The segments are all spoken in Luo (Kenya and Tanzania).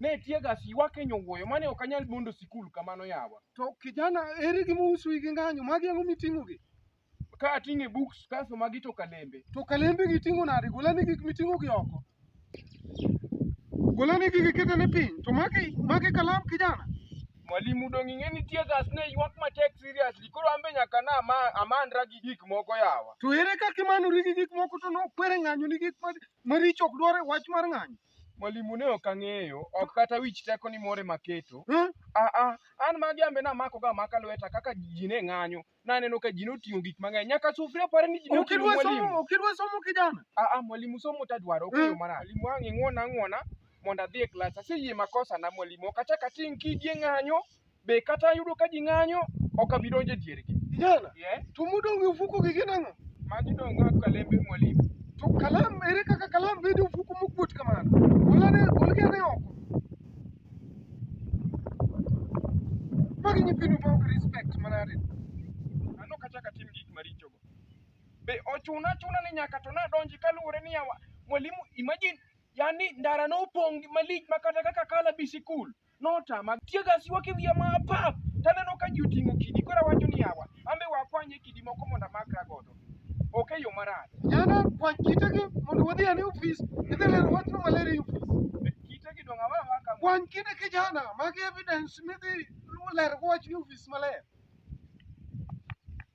Ne tiega si wakenyo wuoyo mane ok anyal bondo sikul kamano yawa. To kijana eri gi mousu igi ng'anyo magi ang'o miting'o gi? Ka ating'e books kaso magi to kalembe. To kalembe gi ting'o nade? Golani gik miting'o gi oko. Golani gigi kete ni piny. To magi magi kalam kijana. Mwalimu dong' ing'e ni tiegas ne ywak matek seriously koro ambe nyaka na ama, amandra gi gik moko yawa. To ere kaka imanori gi gik moko to nokwere ng'anyo ni gik maricho ok dwar e wach mar ng'anyo? Mwalimu ne ok ang'eyo, ok kata wich teko ni more maketo. Hmm? Ah ah, an magi ambe namako ga maka lweta kaka ji ne ng'anyo. Naneno ka ji noting'o gik mang'eny. Nyaka sufria apare ni ji noting'o Ukidwa mwalimu. somo, ukidwa somo kijana. Ah ah, mwalimu somo tadwaro ok Mm. yo marach. Mwalimu wang' ing'wona ang'wona mondo adhi e klas. Aseyie makosa na mwalimu. Ok achak ating' kidi e ng'anyo. be kata ayudo ka ji ng'anyo ok abi donjo e diergi Kijana, yeah. to modong' e ofuko gi gin ang'o? magi dong' kaka kalembe mwalimu To kalam, ere kaka kalam bedo e ofuko mokuot kamano? Golane, golgi ane oko. Magi nyithindo ma ok respect manade. an ok achak atim gik marichogo be ochuna achuna ni nyaka to nadonji kaluwore ni yawa mwalimu imagine yani ndara nopong' gi malich ma kata kaka kala bi sikul notama. Tie gas ywak e wiya ma apap, taneno ka ji oting'o kidi, koro awacho ni yawa, an be wakwanye kidi moko mondo amakra godo. Ok e yo marach. Yana kwany kitegi mondo wadhi ane ofis, idhi lero wachno maler e ofis. Kitegi dong' awe awa kama. Kwany kine kijana mag evidence midhi lero wachni e ofis maler.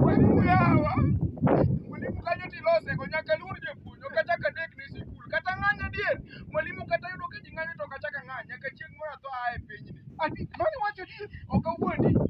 Mwalimu yawa. Mwalimu kanyo tilose go nyaka luor japuonj ok achak adek ne sikul. Kata ng'any adier. Mwalimu kata yudo ka ji ng'anyo to ok achak ang'any nyaka chieng' moro atho aa e pinyni. Ati mani wacho ni ok awuondi.